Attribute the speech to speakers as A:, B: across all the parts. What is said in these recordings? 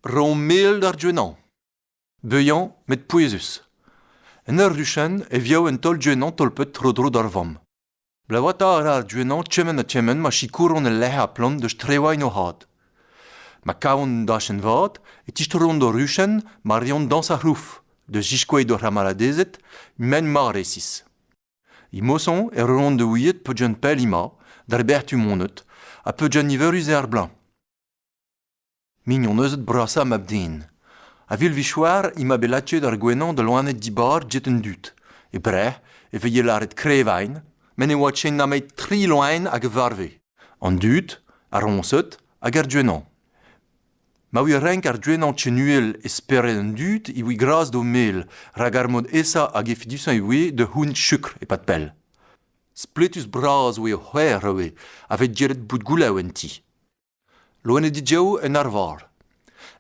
A: Ro mel d'ar Gwenañ. Beuañ met pouezus. En ur ruchenn e vio un taol Gwenañ tolpet tro-dro d'ar vamm. Blavoata a ra ar Gwenañ kement ha kement ma sikouront el lec'h ha plant deus Trewain o had. Ma kavont un dachenn vat e tistroont d'o ruchenn ma reont dañs ar c'hlouf, da ziskouez d'o c'hamaradezed m'emaint mat resis. Imoson e roont da ouiet peuzant pell emañ, d'ar Bertumoned, ha peuzant niverus eo ar bloaz. Mignoneuzed brasañ mab-den. A-vil-vichoar emañ bet lakaet ar gwenañ da loened dibar get an dud. E Breizh e veze lâret krevain, met ne oa ken nemet tri loen hag a varve, an dud, ar roñsed hag ar gwenañ. Ma ouie renk ar gwenañ ken-uhel e spered an dud e voe gras d'o mel rak ar mod aesañ hag efedusañ e voe da c'hoûnt chukr e-pad pell. Spletus-bras oa o c'hwec'h ivez a vez diret bout goulaou en ti. Loened dijav en arvar.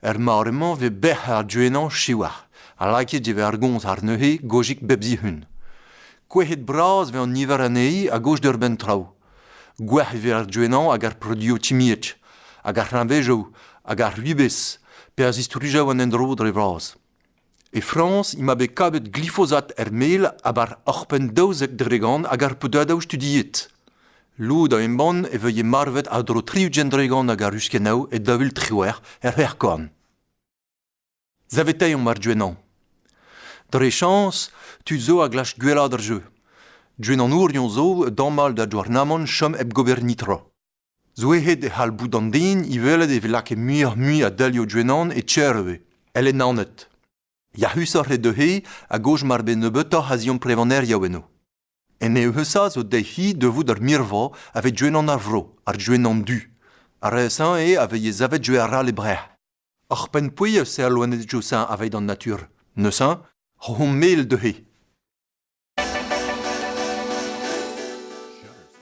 A: Er mare-mañ e vez bec'h ar gwenañ siwazh ha lakaet e vez ar gomz àr neuze gojik bep zihun. Kouezhet-bras eo an niver anezhi a-gozh d'ur benn traoù. Gwec'h e vez ar joennañ hag ar produioù timiek, hag ar c'hreñvezoù hag ar ribez pe a zistrujañ an endro dre vras. E Frañs emañ bet kavet glifosat er mel a-bar oc'hpenn daouzek dregont hag ar podadoù studiet. Lod a embann e vehe marvet a-dro triugent dregont hag a ruskennoù e daou vil triwec'h er c'hrec'hkorn. Saveteiomp ar Gwenañ. Dre-chañs, tud zo a glask gwellaat ar jeu. Gwenanourion zo a damall da Douarnamant chom hep gober netra. Zoueet e c'hall bout an den i welet e vez lakaet muioc'h-mui a delioù Gwenan e tier ivez, èl en Naoned. Yac'husoc'h eo dezhe a goj mar bez nebeutoc'h a ziamprevaneriañ eno. En eeusañ zo dezhi devout ar mirva a vez Gwenan ar Vro, ar Gwenan du. Ar re-señ eo a vez savet jeu arall e Breizh. Ar pennpouez eus al loened Josin aveit an natur, neuze, hon mel dezhe.